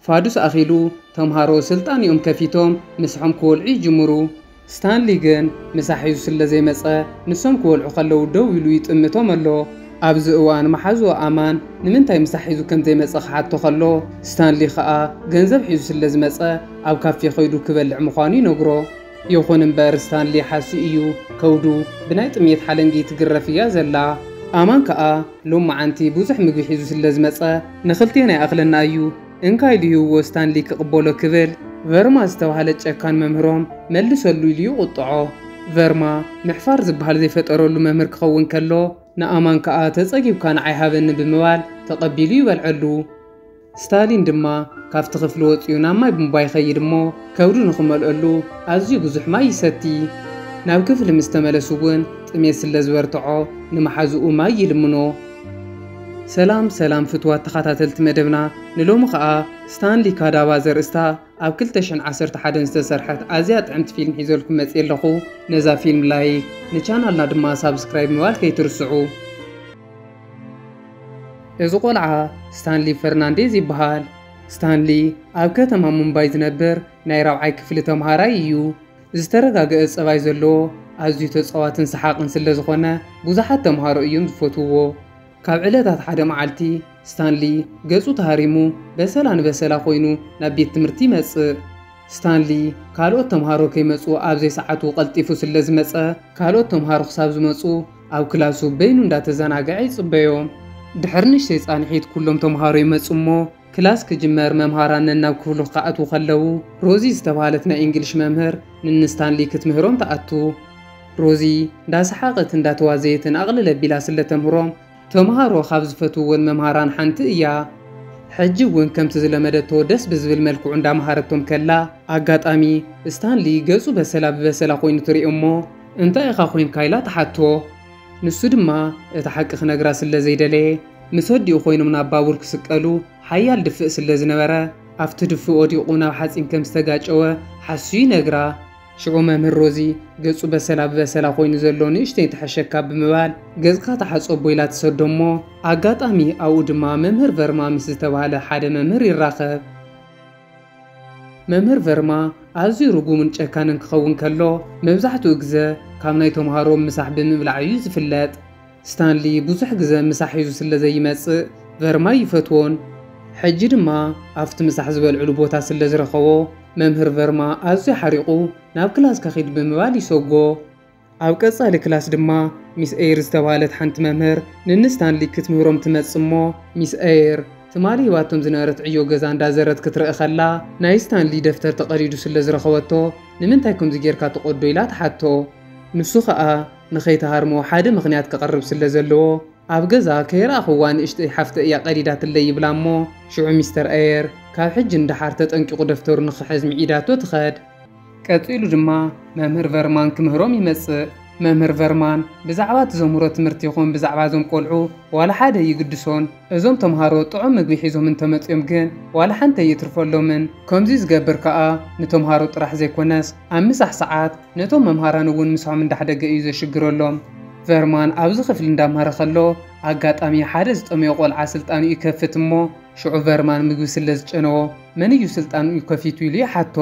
ፋዱስ ኣኺሉ፣ ተምሃሮ ስልጣኒኦም ከፊቶም ምሳሖም ክወልዑ ይጅምሩ። ስታንሊ ግን ምሳ ሒዙ ስለ ዘይመጸ፣ ንሶም ክወልዑ ከለዉ ደው ኢሉ ይጥምቶም ኣሎ። ኣብዚ እዋን መሓዝኡ ኣማን ንምንታይ ምሳ ሒዙ ከም ዘይመጸ ክሓቶ ከሎ፣ ስታንሊ ከኣ ገንዘብ ሒዙ ስለ ዝመጸ ኣብ ካፌ ከይዱ ክበልዕ ምዃኑ ይነግሮ። ይኹን እምበር ስታንሊ ሓሱ እዩ ከብዱ ብናይ ጥምየት ሓለንጊ ትግረፍ እያ ዘላ። ኣማን ከኣ ሎምዓንቲ ብዙሕ ምግቢ ሒዙ ስለ ዝመጸ ንኽልቴና ይኣኽለና እዩ እንካይ ኢሉ ሂብዎ ስታንሊ ክቕበሎ ክብል ቨርማ ዝተባህለ ጨካን መምህሮም መልሰሉ ኢሉ ይቑጥዖ። ቨርማ ምሕፋር ዝበሃል ዘይፈጠረሉ መምህር ክኸውን ከሎ ንኣማን ከኣ ተጸጊብካ ንዓይ ሃበኒ ብምባል ተቐቢሉ ይበልዐሉ። ስታሊን ድማ ካብቲ ክፍሊ ወጺኡ ናብ ማይ ቡንቧ ይኸይድ እሞ ከብዱ ንኽመልኦሉ ኣዝዩ ብዙሕ ማይ ይሰቲ። ናብ ክፍሊ ምስ ተመለሱ እውን ጥሜት ስለ ዝበርትዖ ንመሓዝኡ ማይ ይልምኖ። ሰላም ሰላም ፍትዋት ተኻታተልቲ መደብና ንሎሚ ከኣ ስታንሊ ካዳባ ዘርእስታ ኣብ ክልተ ሽሕን ዓሰርተ ሓደን ዝተሰርሐት ኣዝያ ጥዕምቲ ፊልም ሒዘልኩም መጽየ ኣለኹ ነዛ ፊልም ላይክ ንቻናልና ድማ ሳብስክራይብ ምባል ከይትርስዑ። እዚ ቆልዓ ስታንሊ ፈርናንዴዝ ይበሃል። ስታንሊ ኣብ ከተማ ሙምባይ ዝነብር ናይ ራብዓይ ክፍሊ ተምሃራይ እዩ። ዝተረጋገኣ ጸባይ ዘለዎ ኣዝዩ ተጻዋትን ሰሓቕን ስለ ዝኾነ ብዙሓት ተምሃሮ እዮም ዝፈትውዎ። ካብ ዕለታት ሓደ መዓልቲ ስታንሊ ገጹ ተሃሪሙ በሰላ ንበሰላ ኮይኑ ናብ ቤት ትምህርቲ ይመጽእ። ስታንሊ ካልኦት ተምሃሮ ከይመጹ ኣብ ዘይሰዓቱ ቀልጢፉ ስለ ዝመጸ ካልኦት ተምሃሮ ክሳብ ዝመጹ ኣብ ክላሱ በይኑ እንዳተዘናገዐ ይጽበዮ። ድሕሪ ንእሽተይ ጻንሒት ኩሎም ተመሃሮ ይመጹ እሞ ክላስ ክጅመር መምሃራን ነናብ ክፍሉ ክኣትዉ ከለዉ ሮዚ ዝተባህለት ናይ እንግሊሽ መምህር ንንስታንሊ ክትምህሮም ትኣቱ። ሮዚ እንዳሰሓቐት እንዳተዋዘየትን ኣቕልል ኣቢላ ስለ ተምህሮም ተመሃሮ ካብ ዝፈትውወን መምሃራን ሓንቲ እያ። ሕጂ እውን ከምቲ ዝለመደቶ ደስ ብዝብል መልክዑ እንዳመሃረቶም ከላ ኣጋጣሚ ስታንሊ ገጹ በሰላ ብበሰላ ኮይኑ ትሪኦ እሞ እንታይ ኢኻ ኮይንካ ኢላ ትሓቶ። ንሱ ድማ እቲ ሓቂ ክነግራ ስለ ዘይደለየ ምስ ኣዲኡ ኮይኖም ናብ ባቡር ክስቀሉ ሓያል ድፍእ ስለ ዝነበረ ኣብቲ ድፍእ ወዲቑ ናብ ሓጺን ከም ዝተጋጨወ ሓሱ ይነግራ። ሽዑ መምህር ሮዚ ገጹ በሰላ ብበሰላ ኮይኑ ዘሎ ንእሽተይ ትሕሸካ ብምባል ገጽካ ተሓጸቦ ኢላ ትሰዶ እሞ ኣጋጣሚ ኣብኡ ድማ መምህር ቨርማ ምስ ዝተባህለ ሓደ መምህር ይራኸብ። መምህር ቨርማ ኣዝዩ ርጉምን ጨካንን ክኸውን ከሎ፣ መብዛሕትኡ ግዘ ካብ ናይ ተምሃሮ ምሳሕ ብምብላዕ እዩ ዝፍለጥ። ስታንሊ ብዙሕ ግዘ ምሳሕ ሒዙ ስለ ዘይመጽእ ቨርማ ኣይፈትዎን። ሕጂ ድማ ኣብቲ ምሳሕ ዝበልዕሉ ቦታ ስለ ዝረኸቦ፣ መምህር ቨርማ ኣዝዩ ሓሪቑ ናብ ክላስ ከኺድ ብምባል ይሰጎ። ኣብ ቀጻሊ ክላስ ድማ ሚስ ኤይር ዝተባህለት ሓንቲ መምህር ንን ስታንሊ ክትምህሮም ትመጽእ እሞ፣ ሚስ ኤይር ትማሊ ሂባቶም ዝነበረት ዕዮ ገዛ እንዳዘረት ክትርእ ከላ ናይ ስታንሊ ደፍተር ተቐዲዱ ስለ ዝረኸበቶ ንምንታይ ከምዚ ጌርካ ትቐዶ ኢላ ትሓቶ። ንሱ ከኣ ንኸይትሃርሞ ሓደ ምኽንያት ከቕርብ ስለ ዘለዎ ኣብ ገዛ ከይረኣኹዋ ንእሽተይ ሓፍተይ እያ ቀዲዳትለይ ይብላ እሞ ሽዑ ሚስተር ኤይር ካብ ሕጂ ንደሓር ተጠንቂቑ ደፍተሩ ንኽሕዝ ምዒዳቶ ትኸድ። ቀጺሉ ድማ መምህር ቨርማን ክምህሮም ይመጽእ። መምህር ቨርማን ብዛዕባ ትዘምህሮ ትምህርቲ ይኹን ብዛዕባ እዞም ቆልዑ ዋላ ሓደ ኣይግድሶን። እዞም ተምሃሮ ጥዑም ምግቢ ሒዞም እንተመጽዮም ግን ዋላ ሓንቲ ኣይእትርፈሎምን። ከምዚ ዝገብር ከኣ ንተምሃሮ ጥራሕ ዘይኮነስ ኣብ ምሳሕ ሰዓት ነቶም መምሃራን እውን ምሳሖም እንዳሕደገ እዩ ዘሽግረሎም። ቨርማን ኣብዚ ክፍሊ እንዳምሃረ ከሎ ኣጋጣሚ ሓደ ዝጠመዮ ቆልዓ ስልጣኑ ይከፍት እሞ፣ ሽዑ ቨርማን ምግቢ ስለ ዝጨነዎ መን እዩ ስልጣንኡ ከፊቱ ኢሉ ይሓቶ።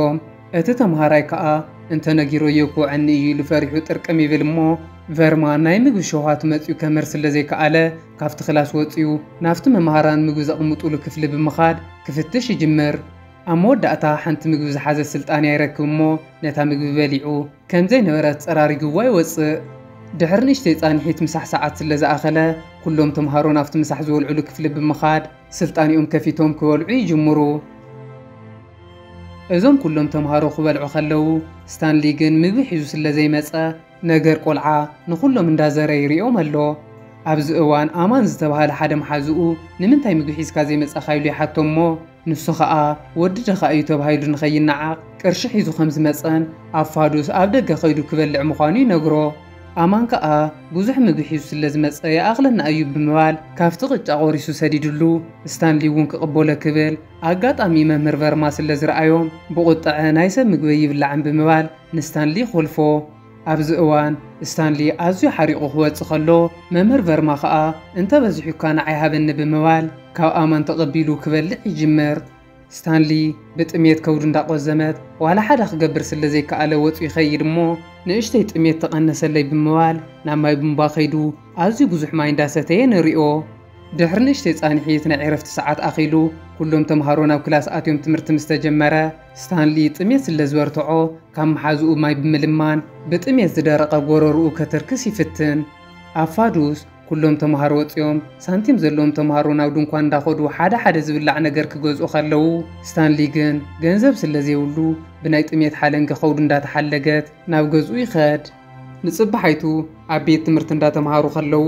እቲ ተምሃራይ ከኣ እንተ ነጊረዮ ክውዐኒ እዩ ኢሉ ፈሪሑ ጥርቅም ይብል እሞ ቨርማን ናይ ምግቢ ሸውሃቱ መጺኡ ከምህር ስለ ዘይከኣለ ካብቲ ክላስ ወጺኡ ናብቲ መማህራን ምግቢ ዘቕምጡሉ ክፍሊ ብምኻድ ክፍትሽ ይጅምር። ኣብ መወዳእታ ሓንቲ ምግቢ ዝሓዘት ስልጣንያ ይረክብ እሞ ነታ ምግቢ በሊዑ። ከም ዘይነበረት ጸራሪግዋ ይወጽእ። ድሕሪ ንእሽተይ ጻንሒት ምሳሕ ሰዓት ስለ ዝኣኸለ፣ ኩሎም ተመሃሮ ናብቲ ምሳሕ ዝበልዑሉ ክፍሊ ብምኻድ ስልጣኔኦም ከፊቶም ክበልዑ ይጅምሩ። እዞም ኩሎም ተመሃሮ ክበልዑ ከለዉ፣ ስታንሊ ግን ምግቢ ሒዙ ስለ ዘይመጸ፣ ነገር ቆልዓ ንኹሎም እንዳ ዘረ ይርእዮም ኣሎ። ኣብዚ እዋን ኣማን ዝተባህለ ሓደ መሓዝኡ ንምንታይ ምግቢ ሒዝካ ዘይመጻኻ ኢሉ ይሓቶ እሞ፣ ንሱ ኸኣ ወዲ ድኻ እዩ ተባሂሉ ንኸይነዓቕ ቅርሺ ሒዙ ከም ዝመጸን ኣብ ፋዱስ ኣብ ደገ ከይዱ ክበልዕ ምዃኑ ይነግሮ። ኣማን ከኣ ብዙሕ ምግቢ ሒዙ ስለ ዝመጸ ይኣኽለና እዩ ብምባል ካብቲ ቅጫ ቆሪሱ ሰዲድሉ ስታንሊ እውን ክቕበሎ ክብል ኣጋጣሚ መምህር ቨርማ ስለ ዝረኣዮም ብቑጠዐ ናይ ሰብ ምግበይ ይብላዕን ብምባል ንስታንሊ ይኾልፎ። ኣብዚ እዋን ስታንሊ ኣዝዩ ሓሪቑ ክወጽእ ከሎ፣ መምህር ቨርማ ከኣ እንተ በዚሑካ ንዓይ ሃበኒ ብምባል ካብ ኣማን ተቐቢሉ ክበልዕ ይጅምር። ስታንሊ ብጥምየት ከብዱ እንዳቆዘመት ዋላ ሓደ ክገብር ስለ ዘይከኣለ ወጹ ይኸይድ እሞ ንእሽተይ ጥምየት ተቐነሰለይ ብምባል ናብ ማይ ቡንባ ከይዱ ኣዝዩ ብዙሕ ማይ እንዳሰተየ ንሪኦ። ድሕሪ ንእሽተይ ጻንሒት ናይ ዕረፍቲ ሰዓት ኣኺሉ ኩሎም ተምሃሮ ናብ ክላስ ኣትዮም ትምህርቲ ምስ ተጀመረ፣ ስታንሊ ጥሜት ስለ ዝበርትዖ፣ ካብ መሓዝኡ ማይ ብምልማን ብጥሜት ዝደረቐ ጎረርኡ ከትርክስ ይፍትን። ኣብ ፋዱስ፣ ኩሎም ተመሃሮ ወጺኦም፣ ሳንቲም ዘለዎም ተመሃሮ ናብ ድንኳን እንዳኸዱ ሓደ ሓደ ዝብላዕ ነገር ክገዝኡ ከለዉ፣ ስታንሊ ግን ገንዘብ ስለ ዘይብሉ ብናይ ጥሜት ሓለንጊ ከብዱ እንዳተሓለገት ናብ ገዝኡ ይኸድ። ንጽባሓይቱ ኣብ ቤት ትምህርቲ እንዳተምሃሩ ከለዉ፣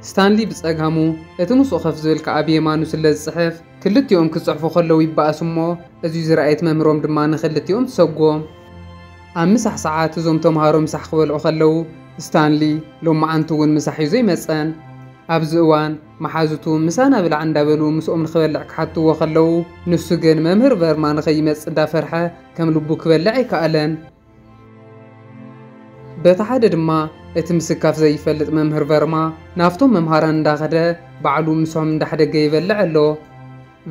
ስታንሊ ብጸጋሙ፣ እቲ ምስኡ ከፍ ዝብል ከኣ ብየማኑ ስለ ዝጽሕፍ፣ ክልቲኦም ክጽሕፉ ከለዉ ይበኣሱ እሞ፣ እዚ ዝረኣየት መምህሮም ድማ ንኽልቲኦም ትሰጎም። ኣብ ምሳሕ ሰዓት እዞም ተምሃሮ ምሳሕ ክበልዑ ከለዉ፣ ስታንሊ ሎማዓንቲ እውን ምሳሕ ሒዙ ኣይመጸን። ኣብዚ እዋን መሓዙቱ ምሳና ብላዕ እንዳበሉ ምስኦም ንኽበልዕ ክሓትዎ ከለዉ፣ ንሱ ግን መምህር ቨርማ ንኸይመጽእ እንዳፈርሐ ከም ልቡ ክበልዕ ኣይከኣለን። በቲ ሓደ ድማ እቲ ምስካፍ ዘይፈልጥ መምህር ቨርማ ናብቶም መምሃራን እንዳኸደ ባዕሉ ምስኦም እንዳሕደገ ይበልዕ ኣሎ።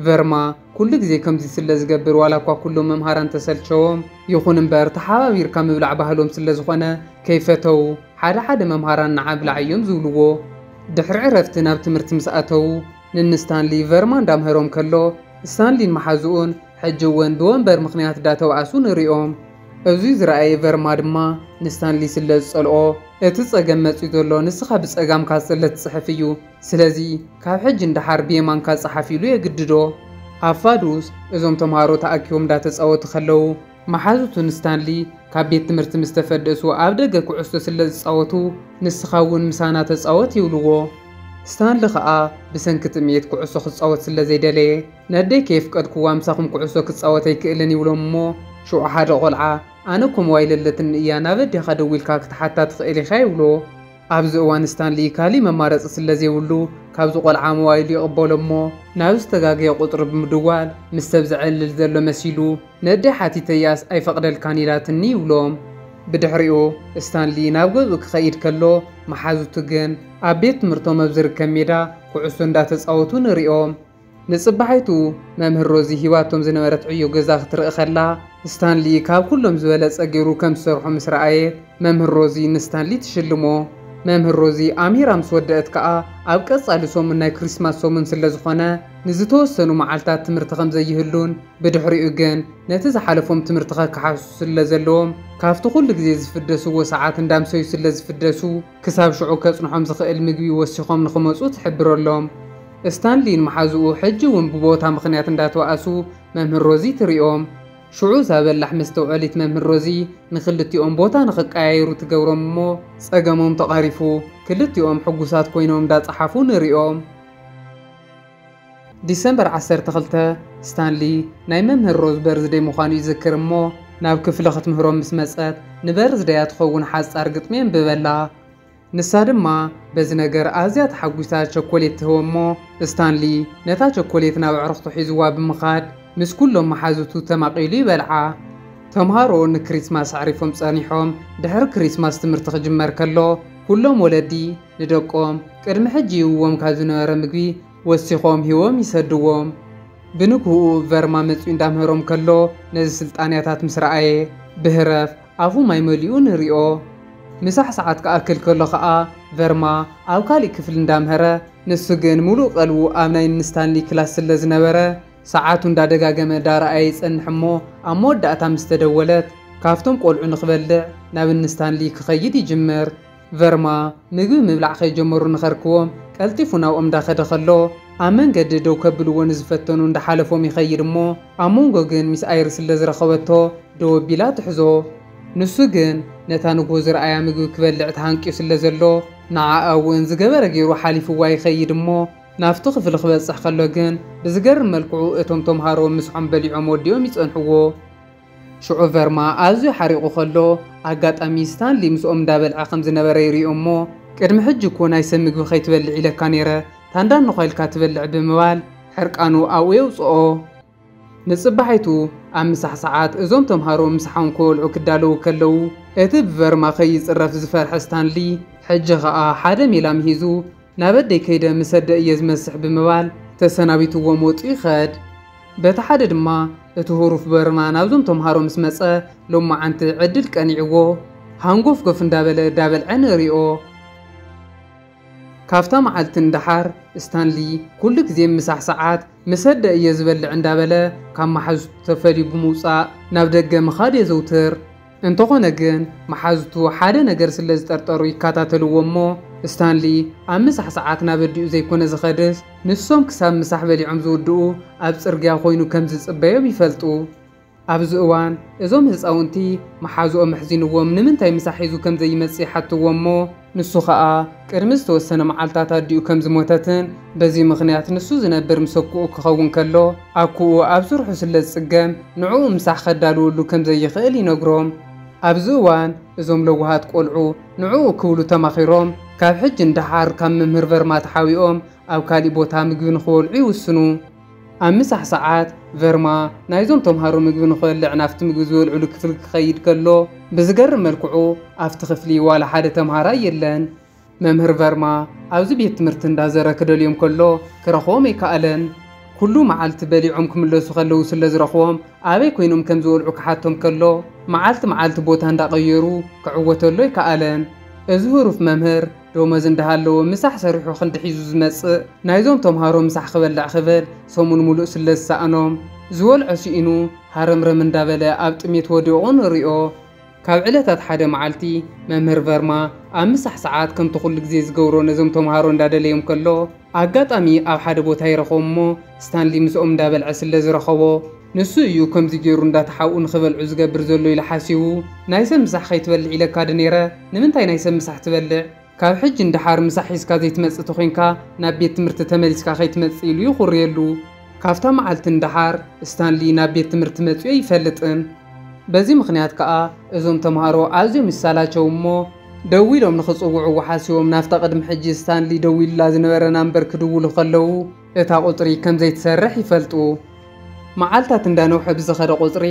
ቨርማ ኩሉ ግዜ ከምዚ ስለ ዝገብር ዋላ እኳ ኩሎም መምሃራን ተሰልቸዎም ይኹን እምበር ተሓባቢርካ ምብላዕ ባህሎም ስለ ዝኾነ ከይፈተዉ ሓደ ሓደ መምሃራን ንዓ ብላዕ እዮም ዝብልዎ። ድሕሪ ዕረፍቲ ናብ ትምህርቲ ምስ ኣተዉ። ንን ስታንሊ ቨርማ እንዳምህሮም ከሎ ስታንሊን መሓዝኡን ሕጂ ውን ብወንበር ምኽንያት ዳተባኣሱ ንሪኦም። እዙይ ዝረኣየ ቨርማ ድማ ንስታንሊ ስለ ዝጸልኦ እቲ ጸገም መጽዩ ዘሎ ንስኻ ብጸጋምካ ስለ ትጽሕፍ እዩ ስለዚ ካብ ሕጂ ንደሓር ብየማንካ ጽሓፍ ኢሉ የግድዶ። ኣብ ፋዱስ እዞም ተምሃሮ ተኣኪቦም ዳተጻወቱ ከለዉ መሓዙቱ ንስታንሊ ካብ ቤት ትምህርቲ ምስ ተፈደሱ ኣብ ደገ ኩዕሶ ስለ ዝጻወቱ ንስኻ እውን ምሳና ተጻወት ይብልዎ። ስታንሊ ከኣ ብሰንኪ ጥምየት ኩዕሶ ክጻወት ስለ ዘይደለየ ነኣደይ ከየፍቀድክዋ ምሳኹም ኩዕሶ ክጻወት ኣይክእልን ይብሎም እሞ ሽዑ ሓደ ቆልዓ ኣነ እኮ ሞባይለ ኣለትኒ እያ ናብ ኣዴኻ ደዊልካ ክትሓታ ትኽእል ኢኻ ይብሎ። ኣብዚ እዋን ስታንሊ ካሊእ መማረጺ ስለ ዘይብሉ ካብዚ ቆልዓ ሞባይሉ ይቕበሎ እሞ ናብ ዝተጋገየ ቁጽሪ ብምድዋል ምስ ሰብ ዘዕልል ዘሎ መሲሉ ነደ ሓቲተያስ ኣይፈቕደልካን ኢላትኒ ይብሎም። ብድሕሪኡ ስታንሊ ናብ ገዝኡ ክኸይድ ከሎ መሓዙቱ ግን ኣብ ቤት ትምህርቶም ኣብ ዝርከብ ሜዳ ኩዕሶ እንዳተጻወቱ ንሪኦም። ንጽባሒቱ መምህር ሮዚ ሂባቶም ዝነበረት ዕዮ ገዛ ክትርኢ ከላ ስታንሊ ካብ ኩሎም ዝበለጸ ጌሩ ከም ዝሰርሖ ምስ ረኣየት መምህር ሮዚ ንስታንሊ ትሽልሞ። መምህር ሮዚ ኣምሂራ ምስ ወደእት ከኣ ኣብ ቀጻሊ ሰሙን ናይ ክሪስማስ ሰሙን ስለ ዝኾነ ንዝተወሰኑ መዓልታት ትምህርቲ ከም ዘይህሉን ብድሕሪኡ ግን ነቲ ዝሓለፎም ትምህርትኸ ክሓሱ ስለ ዘለዎም ካብቲ ኩሉ ግዜ ዝፍደስዎ ሰዓት እንዳምሰዩ ስለ ዝፍደሱ ክሳብ ሽዑ ከጽንሖም ዝኽእል ምግቢ ወሲኾም ንኽመጹ ትሕብረሎም። እስታንሊን መሓዝኡ ሕጂ እውን ብቦታ ምኽንያት እንዳተባኣሱ መምህር ሮዚ ትሪኦም። ሽዑ እዛ በላሕ መስተውዐሊት መምህር ሮዚ ንኽልቲኦም ቦታ ንኽቀያየሩ ትገብሮም እሞ ጸገሞም ተቐሪፉ ክልቲኦም ሕጉሳት ኮይኖም እንዳጸሓፉ ንሪኦም። ዲሰምበር ዓሰርተ ክልተ፣ ስታንሊ ናይ መምህር ሮዝ በርዝደይ ምዃኑ ይዝክር እሞ ናብ ክፍሊ ክትምህሮም ምስ መጸት ንበርዝደያ ትኸውን ሓጻር ግጥሚ የንብበላ። ንሳ ድማ በዚ ነገር ኣዝያ ተሓጒሳ ቸኮሌት ትህቦ እሞ ስታንሊ ነታ ቸኮሌት ናብ ኣዕሩኽቱ ሒዝዋ ብምኻድ ምስ ኩሎም መሓዙቱ ተማቒሉ ይበልዓ። ተምሃሮ ንክሪስማስ ኣዕሪፎም ጸኒሖም ድሕሪ ክሪስማስ ትምህርቲ ክጅመር ከሎ ኩሎም ወለዲ ንደቆም ቅድሚ ሕጂ ይህብዎም ካብ ዝነበረ ምግቢ ወሲኾም ሂቦም ይሰድዎም። ብንግሁኡ ቨርማ መጺኡ እንዳምህሮም ከሎ ነዚ ስልጣንያታት ምስ ረኣየ ብህረፍ ኣፉ ማይ መሊኡ ንሪኦ። ምሳሕ ሰዓት ክኣክል ከሎ ከኣ ቨርማ ኣብ ካሊእ ክፍሊ እንዳምሀረ ንሱ ግን ሙሉእ ቀልቡ ኣብ ናይ ን ስታንሊ ክላስ ስለ ዝነበረ ሰዓቱ እንዳደጋገመ ዳረኣየ ይጸንሕ እሞ ኣብ መወዳእታ ምስ ተደወለት ካብቶም ቆልዑ ንክበልዕ ናብ ን ስታንሊ ክኸይድ ይጅምር። ቨርማ ምግቢ ምብላዕ ከይጀመሩ ንኸርክዎ ቀልጢፉ ናብኦም እንዳኸደ ከሎ ኣብ መንገዲ ደው ከብልዎ ንዝፈተኑ እንዳሓለፎም ይኸይድ እሞ ኣብ መንጎ ግን ሚስ ኣይሪ ስለ ዝረኸበቶ ደው ኣቢላ ትሕዞ ንሱ ግን ነታ ንግሆ ዝረኣያ ምግቢ ክበልዕ ተሃንቅዩ ስለ ዘሎ ንዓኣ እውን ዝገበረ ገይሩ ሓሊፍዋ ይኸይድ እሞ ናብቲ ክፍሊ ክበጽሕ ከሎ ግን ብዝገርም መልክዑ እቶም ተምሃሮ ምስሖም በሊዖም ወዲኦም ይጸንሕዎ። ሽዑ ቨርማ ኣዝዩ ሓሪቑ ከሎ፣ ኣጋጣሚ ስታንሊ ምስኦም እንዳበልዐ ከም ዝነበረ ይሪኦ እሞ፣ ቅድሚ ሕጂ እኮ ናይ ሰብ ምግቢ ከይትበልዕ ኢለካ ነይረ፣ ታንዳኖኻ ኢልካ ትበልዕ ብምባል ሕርቃኑ ኣብኡ የውጽኦ። ንጽባሒቱ ኣብ ምሳሕ ሰዓት፣ እዞም ተምሃሮ ምሳሖም ክበልዑ ክዳለዉ ከለዉ፣ እቲ ብቨርማ ከይጽረፍ ዝፈርሐ ስታንሊ፣ ሕጂ ከኣ ሓደ ሜላ ምሂዙ፣ ናብ ኣደይ ከይደ ምስ ኣደ እየ ዝመስሕ ብምባል ተሰናቢትዎም ወጺኡ ይኸድ። በቲ ሓደ ድማ እቲ ሁሩፍ በርማ ናብዞም ተምሃሮ ምስ መጸ ሎማዓንቲ ዕድል ቀኒዕዎ ሃንጎፍጎፍ እንዳበለ ዳበልዐ ንሪኦ። ካብታ ማዓልቲ ንዳሓር ስታንሊ ኩሉ ግዜ ምሳሕ ሳዓት ምስ ኣደ እየ ዝበልዕ እንዳበለ ካብ ማሓዙቱ ተፈልዩ ብምውጻእ ናብ ደገ ምኻድ የዘውትር። እንተኾነ ግን መሓዙቱ ሓደ ነገር ስለ ዝጠርጠሩ ይከታተልዎ እሞ ስታንሊ ኣብ ምሳሕ ሰዓት ናብ ኣዲኡ ዘይኮነ ዝኸድስ ንሶም ክሳብ ምሳሕ በሊዖም ዝውድኡ ኣብ ጽርግያ ኮይኑ ከም ዝጽበዮም ይፈልጡ። ኣብዚ እዋን እዞም ህጻውንቲ መሓዙኦም ኣሕዚንዎም ንምንታይ ምሳሕ ሒዙ ከም ዘይመጽእ ይሓትዎ እሞ፣ ንሱ ኸኣ ቅድሚ ዝተወሰነ መዓልታት ኣዲኡ ከም ዝሞተትን በዚ ምኽንያት ንሱ ዝነብር ምስ ኣኩኡ ክኸውን ከሎ ኣኩኡ ኣብ ስርሑ ስለ ዝጽገም ንዕኡ ምሳሕ ከዳልወሉ ከም ዘይኽእል ይነግሮም። ኣብዚ እዋን እዞም ለዋሃት ቆልዑ ንዕኡ ክብሉ ተማኺሮም ካብ ሕጂ ንደሓር ካብ መምህር ቨርማ ተሓቢኦም ኣብ ካሊእ ቦታ ምግቢ ንኽበልዑ ይውስኑ። ኣብ ምሳሕ ሰዓት፣ ቨርማ ናይዞም ተምሃሮ ምግቢ ንኽበልዕ ናብቲ ምግቢ ዝበልዕሉ ክፍሊ ክኸይድ ከሎ፣ ብዝገርም መልክዑ ኣብቲ ክፍሊ ዋላ ሓደ ተምሃራይ የለን። መምህር ቨርማ ኣብዚ ቤት ትምህርቲ እንዳዘረ ክደልዮም ከሎ ክረኽቦም ኣይከኣለን። ኩሉ መዓልቲ በሊዖም ክምለሱ ከለዉ ስለዝረኽቦም ኣበይ ኮይኖም ከምዝበልዑ ክሓቶም ከሎ መዓልቲ መዓልቲ ቦታ እንዳቐየሩ ክዕወተሉ ኣይከኣለን። እዚ ህሩፍ መምህር፣ ዶመዝ እንዳሃለዎ ምሳሕ ሰሪሑ ክንዲ ሒዙ ዝመጽእ ናይዞም ተምሃሮ ምሳሕ ክበልዕ ክብል ሰሙን ሙሉእ ስለ ዝሳኣኖም ዝወልዖ ሲኢኑ ሃረምረም እንዳበለ ኣብ ጥሜት ወዲቑ ንሪኦ። ካብ ዕለታት ሓደ መዓልቲ መምህር ቨርማ ኣብ ምሳሕ ሰዓት ከምቲ ኩሉ ግዜ ዝገብሮ ነዞም ተምሃሮ እንዳደለዮም ከሎ፣ ኣጋጣሚ ኣብ ሓደ ቦታ ይረኽቦም እሞ ስታንሊ ምስኦም እንዳበልዐ ስለ ዝረኸቦ ንሱ እዩ ከምዚ ጌሩ እንዳ ተሓብኡ ንኽበልዑ ዝገብር ዘሎ ኢሉ ሓሲቡ ናይ ሰብ ምሳሕ ኸይትበልዕ ኢለካ ዶ ኔረ ንምንታይ ናይ ሰብ ምሳሕ ትበልዕ ካብ ሕጂ ንደሓር ምሳሕ ሒዝካ ዘይትመጽእ ተኾይንካ ናብ ቤት ትምህርቲ ተመሊስካ ከይትመጽእ ኢሉ ይኹርየሉ። ካብታ መዓልቲ ንደሓር ስታንሊ ናብ ቤት ትምህርቲ መጺኡ ኣይፈልጥን። በዚ ምኽንያት ከኣ እዞም ተማሃሮ ኣዝዮም ይሳላቸው እሞ ደዊሎም ንኽጽውዕዎ ሓሲቦም ናብታ ቅድሚ ሕጂ ስታንሊ ደዊሉላ ዝነበረ ናምበር ክድውሉ ከለዉ እታ ቁጽሪ ከም ዘይትሰርሕ ይፈልጡ። መዓልታት እንዳ ነውሐ ብዝኸደ ቁጽሪ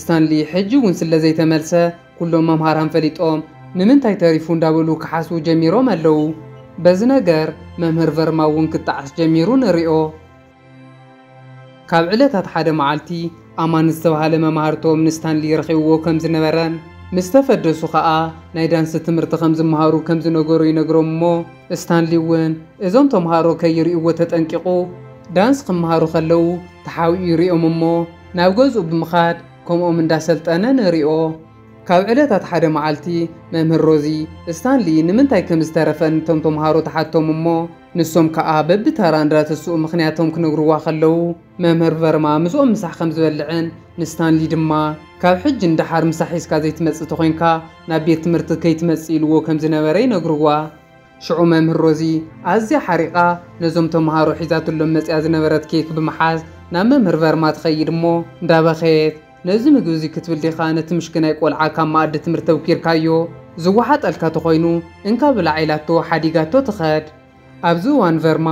ስታንሊ ሕጂ እውን ስለ ዘይተመልሰ ኩሎም መምሃራን ፈሊጦም ንምንታይ ተሪፉ እንዳበሉ ክሓስቡ ጀሚሮም ኣለዉ። በዚ ነገር መምህር ቨርማ እውን ክጣዓስ ጀሚሩ ንሪኦ። ካብ ዕለታት ሓደ መዓልቲ ኣማን ዝተባህለ መማህርቶም ንስታንሊ ረኺብዎ ከም ዝነበረን ምስ ተፈደሱ ከኣ ናይ ዳንሲ ትምህርቲ ከም ዝመሃሩ ከም ዝነገሮ ይነግሮም እሞ ስታንሊ እውን እዞም ተምሃሮ ከይርእይዎ ተጠንቂቑ ዳንስ ክመሃሩ ከለዉ ተሓቢኡ ይርእዮም እሞ ናብ ገዝኡ ብምኻድ ከምኦም እንዳሰልጠነ ንሪኦ። ካብ ዕለታት ሓደ መዓልቲ መምህር ሮዚ፣ ስታንሊ ንምንታይ ከም ዝተረፈ ንቶም ተምሃሮ ትሓቶም እሞ፣ ንሶም ከኣ በብተራ እንዳተስኡ ምኽንያቶም ክነግሩዋ ከለዉ፣ መምህር ቨርማ ምስኦም ምሳሕ ከም ዝበልዕን፣ ንስታንሊ ድማ፣ ካብ ሕጂ ንደሓር ምሳሕ ሒዝካ ዘይትመጽእ ተኾይንካ፣ ናብ ቤት ትምህርቲ ከይትመጽእ ኢልዎ ከም ዝነበረ ይነግሩዋ። ሽዑ መምህር ሮዚ ኣዝያ ሓሪቓ ነዞም ተመሃሮ ሒዛትሎም መጺኣ ዝነበረት ኬክ ብምሓዝ ናብ መምህር ቨርማ ትኸይድ እሞ እንዳበኸየት፣ ነዚ ምግቢ እዚ ክትብል ዲኻ ነቲ ምሽክናይ ቆልዓ ካብ መኣዲ ትምህርቲ ተውኪርካዮ? ዝወሓጠልካ ተኾይኑ እንካ ብላዕ ኢላቶ ሓዲጋቶ ትኸድ። ኣብዚ እዋን ቨርማ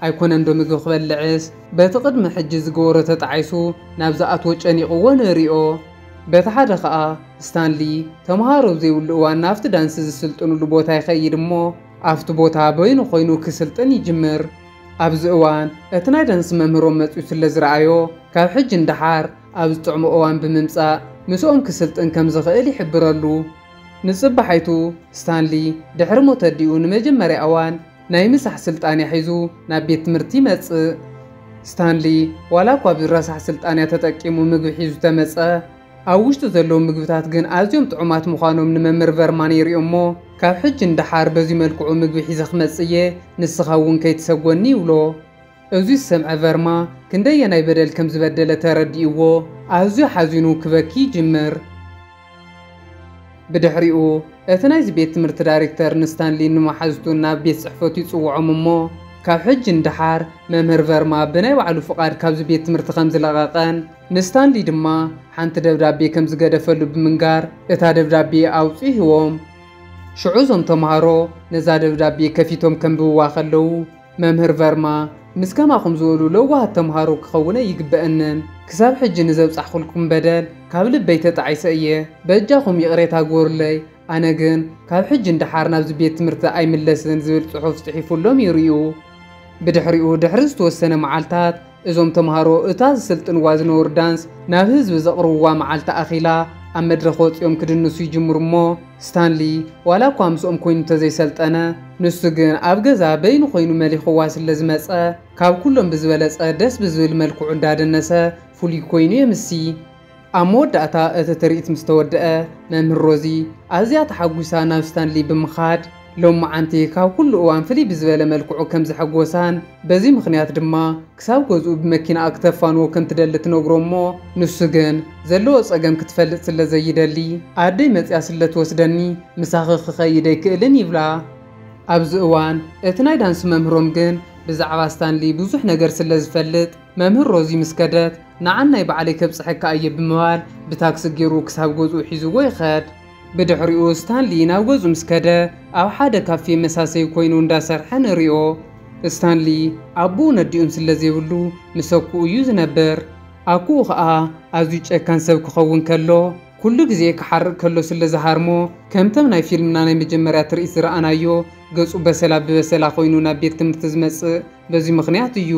ኣይኮነንዶ ምግቢ ክበልዕስ በቲ ቅድሚ ሕጂ ዝገበሮ ተጣዒሱ ናብ ዝኣትዎ ጨኒቕዎ ንርእዮ። በቲ ሓደ ከኣ ስታንሊ ተመሃሮ ኣብ ዘይብሉ እዋን ናብቲ ዳንሲ ዝስልጥንሉ ቦታ ይኸይድ እሞ ኣብቲ ቦታ በይኑ ኮይኑ ክስልጥን ይጅምር። ኣብዚ እዋን እቲ ናይ ዳንሲ መምህሮም መጺኡ ስለ ዝረኣዮ ካብ ሕጂ ንደሓር ኣብ ዝጥዕሞ እዋን ብምምጻእ ምስኦም ክስልጥን ከም ዝኽእል ይሕብረሉ። ንጽባሓይቱ ስታንሊ ድሕሪ ሞት ኣዲኡ ንመጀመርያ እዋን ናይ ምሳሕ ስልጣንያ ሒዙ ናብ ቤት ትምህርቲ ይመጽእ። ስታንሊ ዋላ እኳ ኣብዚ ረሳሕ ስልጣንያ ተጠቂሙ ምግቢ ሒዙ ተመጸ፣ ኣብ ውሽጡ ዘለዉ ምግብታት ግን ኣዝዮም ጥዑማት ምዃኖም ንመምህር ቨርማን የርእዮ'ሞ ካብ ሕጂ ንደሓር በዚ መልክዑ ምግቢ ሒዘ ክመጽእ እየ ንስኻ እውን ከይትሰጎኒ ይብሎ። እዚ ዝሰምዐ ቨርማ ክንደየናይ በደል ከም ዝበደለ ተረዲእዎ ኣዝዩ ሓዚኑ ክበኪ ይጅምር። ብድሕሪኡ እቲ ናይዚ ቤት ትምህርቲ ዳይሬክተር ንስታንሊን ንመሓዙቱን ናብ ቤት ጽሕፈቱ ይጽውዖም እሞ ካብ ሕጂ ንደሓር መምህር ቨርማ ብናይ ባዕሉ ፍቓድ ካብዚ ቤት ትምህርቲ ከም ዝለቐቐን ንስታንሊ ድማ ሓንቲ ደብዳቤ ከም ዝገደፈሉ ብምንጋር እታ ደብዳቤ ኣውጽኢዎም። ሽዑ እዞም ተማሃሮ ነዛ ደብዳቤ ከፊቶም ከንብብዋ ከለዉ መምህር ቨርማ ምስ ከማኹም ዝበሉ ለዋሃት ተምሃሮ ክኸውነ ይግበእንን ክሳብ ሕጂ ንዘብጻሕኹልኩም በደል ካብ ልበይ ተጣዒሰ እየ በጃኹም ይቕሬታ ግበሩለይ ኣነ ግን ካብ ሕጂ ንደሓር ናብዚ ቤት ትምህርቲ ኣይምለስን ዝብል ጽሑፍ ጽሒፉሎም ይርእዩ ብድሕሪኡ ድሕሪ ዝተወሰነ መዓልታት እዞም ተምሃሮ እታ ዝስልጥንዋ ዝነበሩ ዳንስ ናብ ህዝቢ ዘቕርብዋ መዓልቲ ኣኺላ ኣብ መድረኽ ወጺኦም ክድንሱ ይጅምሩ እሞ ስታንሊ ዋላ እኳ ምስኦም ኮይኑ እንተዘይሰልጠነ ንሱ ግን ኣብ ገዛ በይኑ ኮይኑ መሊኽዋ ስለ ዝመጸ ካብ ኩሎም ብዝበለጸ ደስ ብዝብል መልክዑ እንዳደነሰ ፍሉይ ኮይኑ የምሲ። ኣብ መወዳእታ እቲ ትርኢት ምስ ተወድኣ፣ መምህር ሮዚ ኣዝያ ተሓጒሳ ናብ ስታንሊ ብምኻድ ሎምዓንቲ ካብ ኩሉ እዋን ፍልይ ብዝበለ መልክዑ ከም ዘሐጎሳን በዚ ምኽንያት ድማ ክሳብ ገዝኡ ብመኪናኣ ክተፋንዎ ከም ትደሊ ትነግሮ እሞ ንሱ ግን ዘለዎ ጸገም ክትፈልጥ ስለ ዘይደሊ ኣደይ መጺኣ ስለ ትወስደኒ ምሳኺ ክኸይድ ኣይክእልን ይብላ። ኣብዚ እዋን እቲ ናይ ዳንስ መምህሮም ግን ብዛዕባ ስታንሊ ብዙሕ ነገር ስለ ዝፈልጥ፣ መምህር ሮዚ ምስ ከደት፣ ንዓናይ ባዕለይ ከብጽሐካ እየ ብምባል ብታክሲ ገይሩ ክሳብ ገዝኡ ሒዝዎ ይኸድ። ብድሕሪኡ ስታንሊ ናብ ገዝኡ ምስ ከደ፣ ኣብ ሓደ ካፌ መሳሰዪ ኮይኑ እንዳሰርሐ ንሪኦ። ስታንሊ ኣቦኡን ኣዲኡን ስለ ዘይብሉ ምስ ኣኩኡ እዩ ዝነብር። ኣኩኡ ከኣ ኣዝዩ ጨካን ሰብ ክኸውን ከሎ፣ ኩሉ ግዜ ክሓርቅ ከሎ ስለ ዝሃርሞ፣ ከምተም ናይ ፊልምና ናይ መጀመርያ ትርኢት ዝረኣናዮ ገጹ በሰላ ብበሰላ ኮይኑ ናብ ቤት ትምህርቲ ዝመጽእ በዚ ምኽንያት እዩ።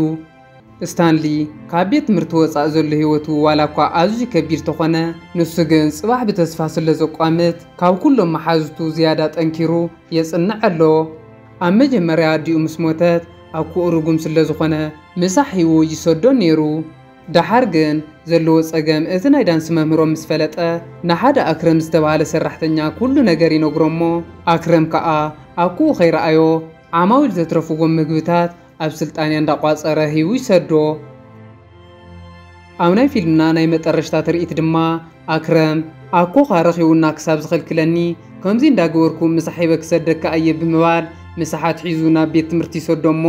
ስታንሊ ካብ ቤት ትምህርቲ ወጻኢ ዘሎ ህይወቱ ዋላ እኳ ኣዝዩ ከቢድ ተኾነ፣ ንሱ ግን ጽባሕ ብተስፋ ስለ ዘቋምት ካብ ኩሎም መሓዙቱ ዝያዳ ጠንኪሩ የጽንዕ ኣሎ። ኣብ መጀመርያ ኣዲኡ ምስ ሞተት ኣኩኡ ርጉም ስለ ዝኾነ ምሳሕ ሂዉ ይሰዶ ኔሩ። ደሓር ግን ዘለዎ ጸገም እቲ ናይ ዳንስ መምህሮም ምስ ፈለጠ ንሓደ ኣክረም ዝተባህለ ሰራሕተኛ ኩሉ ነገር ይነግሮ እሞ ኣክረም ከኣ ኣኩኡ ከይረኣዮ ዓማዊል ዘትረፍዎም ምግብታት ኣብ ስልጣንያ እንዳቋጸረ ሂቡ ይሰዶ። ኣብ ናይ ፊልምና ናይ መጠረሽታ ትርኢት ድማ ኣክረም ኣኮኻ ረኺቡና ክሳብ ዝኸልክለኒ ከምዚ እንዳገበርኩ ምሳሕ ሂበ ክሰደካ እየ ብምባል ምሳሓት ሒዙ ናብ ቤት ትምህርቲ ይሰዶ እሞ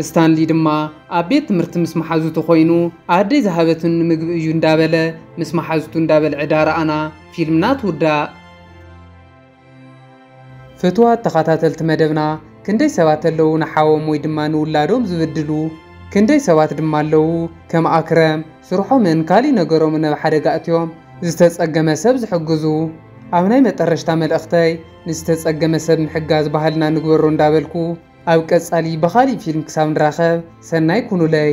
ስታንሊ ድማ ኣብ ቤት ትምህርቲ ምስ ማሓዙቱ ኮይኑ ኣደይ ዝሃበትኒ ምግቢ እዩ እንዳበለ ምስ ማሓዙቱ እንዳበልዐ ዳርኣና ፊልምና ትውዳእ። ፍትዋት ተኻታተልቲ መደብና ክንደይ ሰባት ኣለዉ ንሓዎም ወይ ድማ ንውላዶም ዝብድሉ ክንደይ ሰባት ድማ ኣለዉ ከም ኣክረም ስርሖምን ካሊእ ነገሮምን ኣብ ሓደጋ ኣእትዮም ዝተጸገመ ሰብ ዝሕግዙ ኣብ ናይ መጠረሽታ መልእኽተይ ንዝተጸገመ ሰብ ምሕጋዝ ባህልና ንግበሮ እንዳበልኩ ኣብ ቀጻሊ ብኻሊእ ፊልም ክሳብ ንራኸብ ሰናይ ኩኑለይ።